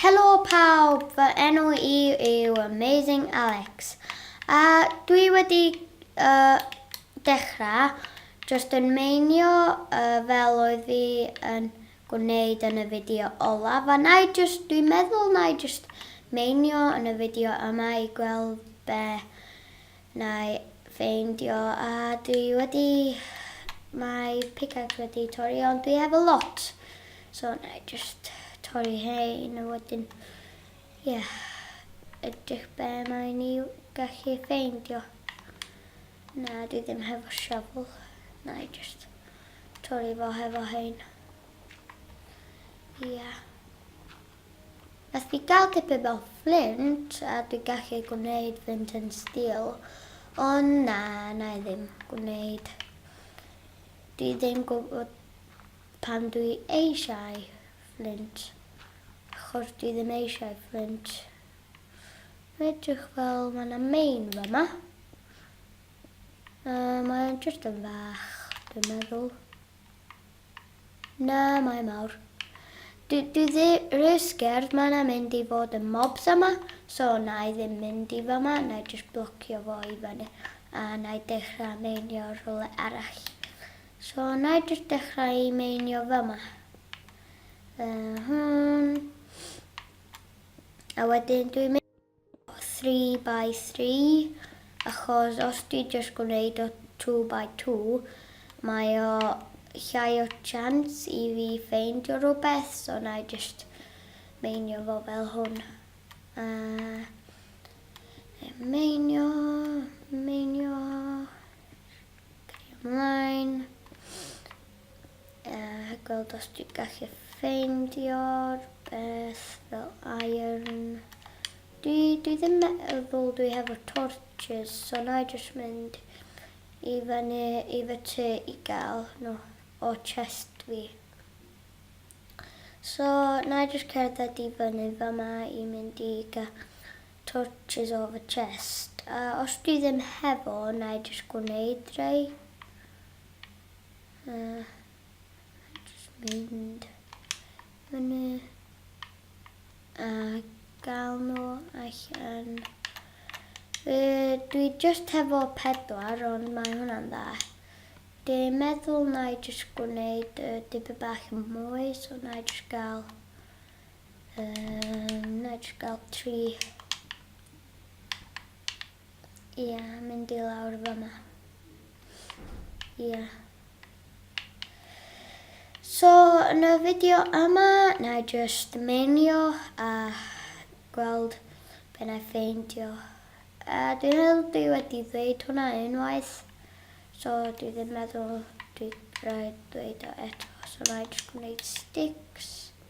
Helo pawb, fy enw i yw Amazing Alex a dwi wedi uh, dechrau just yn meinio uh, fel oedd fi yn gwneud yn y fideo olaf a na i just, dwi'n meddwl na i just meinio yn y fideo yma i gweld be Na'i ffeindio a dwi wedi. Mae pickaxe wedi torri ond dwi efo lot so na'i jyst torri hein a wedyn ie edrych be mae ni gallu ffeindio. Na dwi ddim hefo shovel na'i jyst torri fo hefo hein. Ie. Nes fi gael tipyn o fflint a dwi'n gallu gwneud fynd yn steel ond na, wna i ddim gwneud. Dwi ddim gwybod pam dwi eisiau fflint achos dwi ddim eisiau fflint. Mae'n edrych fel mae yna main fama. Yy, mae'n jyst yn fach, dwi'n meddwl. Na, mae mawr. Dwi, dwi ddi, rhy sgerd, mae na mynd i fod yn mobs yma, so na i ddim mynd i fama, na i just blocio fo i fyny, a na i dechrau meinio rhywle arall. So na i just dechrau i meinio fama. Uh, hwn. A wedyn dwi'n mynd 3 by 3 achos os ti jyst gwneud o 2 by 2 mae o llai o chance i fi ffeindio rhywbeth so na i jyst meinio fo fel hwn. A meinio, meinio, cario ymlaen. Yy gweld os dwi'n gallu ffeindio'r beth fel iron. Dwi, dwi ddim meddwl dwi hefo torches, so na i jyst mynd i fyny i fy ty i gael nhw o chest fi. So na i jyst cerdded i fyny fe ma i mynd i gael torches o fy chest. A os dwi ddim hefo, na i jyst gwneud rei. Uh, just mynd fyny a gael nhw allan. Fe, dwi just hefo pedwar ond mae hwnna'n dda. Dwi meddwl na i just gwneud uh, dipyn bach yn mwy so na i just gael um, na i just gael tri. Ia, mynd i lawr fama. Ia. So, yn y fideo yma, na i just menio a gweld be na i ffeindio. A dwi'n meddwl dwi wedi dweud hwnna unwaith. So, dwi ddim meddwl dwi rhaid dweud o eto. So, na i just gwneud sticks.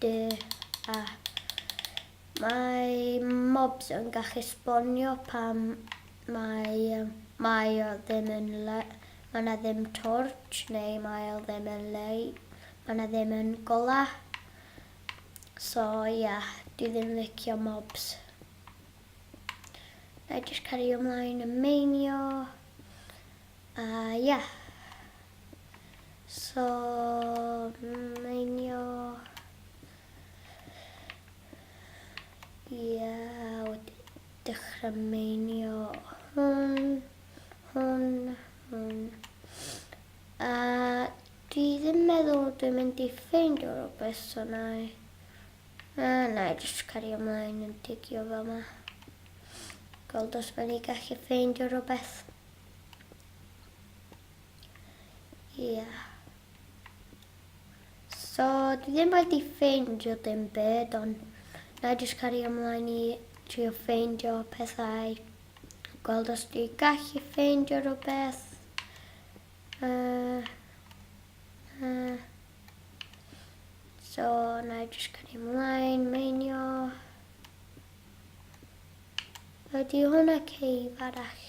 Dy a. Mae mobs yn gallu sbonio pam mae mae o ddim yn le. Mae yna ddim torch neu mae o ddim yn le. Mae yna ddim yn gola. So ia, yeah, dwi ddim licio mobs. Na i jyst cario ymlaen yn meinio. A ia. Yeah. So, meinio... Ia, wedi dechrau meinio hwn, hwn, hwn. A dwi ddim meddwl dwi'n mynd i ffeindio rhywbeth, so na i... A na i jyst cario ymlaen yn digio fel yma. Gweld os mae'n i gallu ffeindio rhywbeth. Ie. So, dwi ddim wedi ffeindio dim byd, ond na i jyst cario ymlaen i trio ffeindio pethau. Gweld os dwi gallu ffeindio rhywbeth. Uh, uh. So, na i jyst cario ymlaen, meinio. Ydy hwnna ceif arall?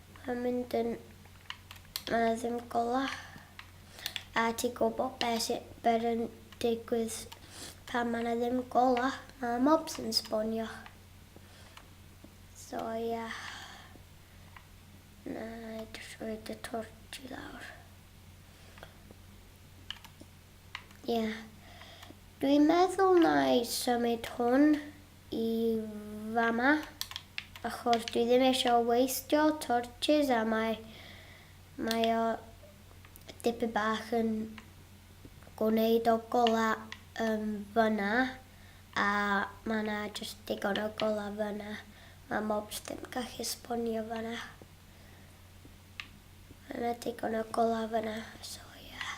Mae'n mynd yn a ddim gola. A ti'n gwybod beth sy'n ber yn digwydd pan mae yna ddim gola? Mae mobs yn sbonio. So ia. Yeah. Na, jyst roed y torch i lawr. Ia. Yeah. Dwi'n meddwl na i symud hwn i fama achos dwi ddim isio waistio torches a mae mae o dipyn bach yn gwneud o gola yn fyna a mae yna jyst digon o gola fyna mae mobs ddim gallu sponio fyna mae yna digon o gola fyna so yeah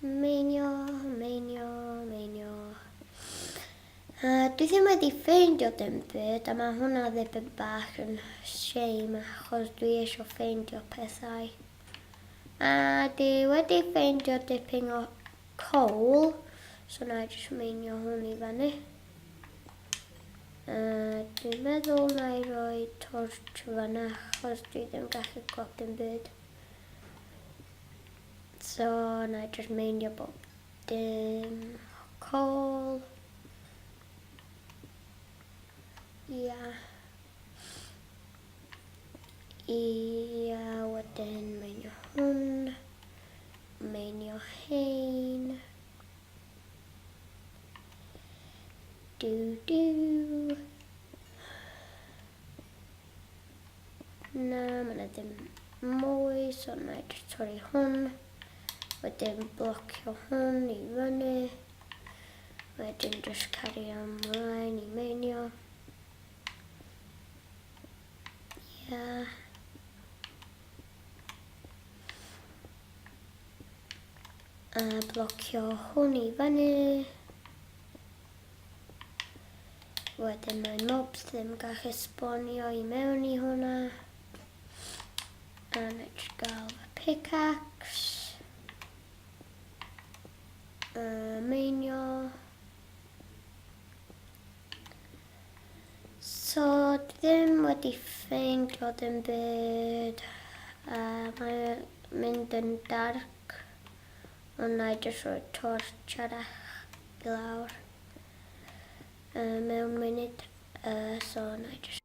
Meinio, meinio, meinio. Uh, dwi ddim wedi ffeindio dim byd a mae hwnna ddipyn bach yn shame achos dwi eisiau ffeindio pethau. A dwi wedi ffeindio dipyn o coal, so na i jyst meinio hwn i fannu. Yy, dwi'n meddwl na i roi torch fanna achos dwi ddim gallu gweld dim byd. So, na i just meindio bob dim. Call. Ia. Ia, wedyn meindio hwn. Meindio hein. Do do. Na, mae yna ddim mwy, so na i just torri hwn. Wedyn blocio hwn i fyny. Wedyn just cario ymlaen i meinio. Yeah. A blocio hwn i fyny. Wedyn mae mobs ddim gallu sbonio i mewn i hwnna. A nid gael fy pickaxe. Uh, meinio. So ddim wedi ffeindio dim byd a mae'n mynd yn dark ond na i jyst rhoi torch arall i lawr yy mewn munud yy so na i jyst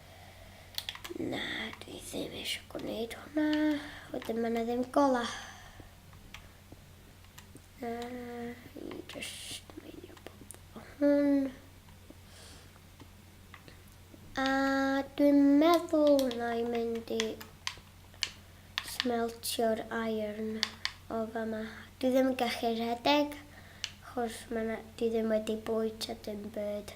Na, dwi ddim eisiau gwneud hwnna. Wedyn mae yna ddim gola. Na, i just meinio bod o hwn. A dwi'n meddwl na i mynd i smeltio'r iron o fama. Dwi ddim yn gallu rhedeg, chos mae yna, dwi ddim wedi bwyd a dim byd.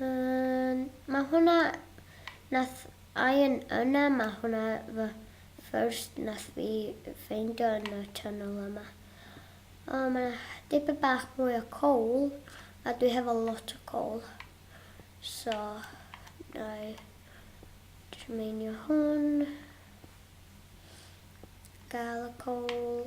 Um, mae hwnna... Nath Ian yna, mae hwnna fy first nath fi ffeindio yn y channel yma. O, oh, mae dipyn bach mwy o coal, a dwi hefo lot o coal. So, na i trmeinio hwn. Gael y coal.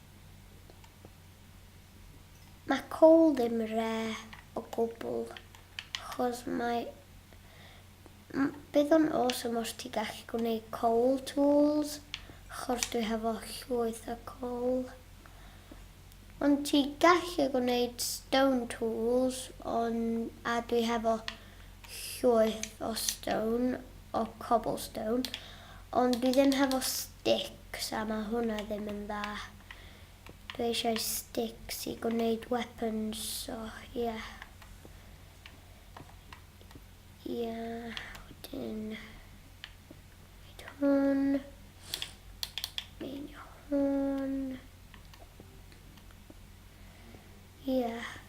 Mae Cole ddim re o gwbl, chos mae... Bydd o'n awesome os ti gallu gwneud Cole tools, chos dwi hefo llwyth o Cole. Ond ti gallu gwneud stone tools, ond a dwi hefo llwyth o stone o cobblestone ond dwi ddim hefo sticks a ma hwnna ddim yn dda. Dwi eisiau sticks i gwneud weapons so ie. Ie, wedyn wneud hwn. Meinio hwn. Ie.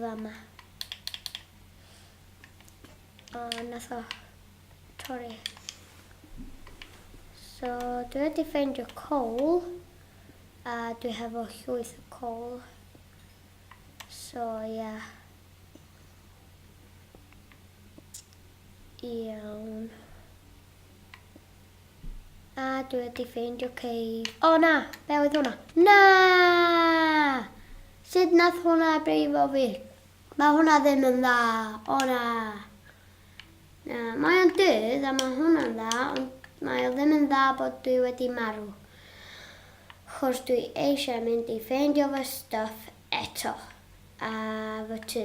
fama. O, nath o torri. So, dwi wedi ffeindio coal, a dwi hefo llwyth o coal. So, ia. Yeah. Iawn. A, dwi wedi ffeindio cei. O na! Be oedd hwnna? Na! Sut nath hwnna brifo fi? Mae hwnna ddim yn dda! O na! Na, mae o'n dydd a mae hwnna'n dda, ond mae o ddim yn dda bod dwi wedi marw. Chos dwi eisiau mynd i ffeindio fy stwff eto. A fy tŷ.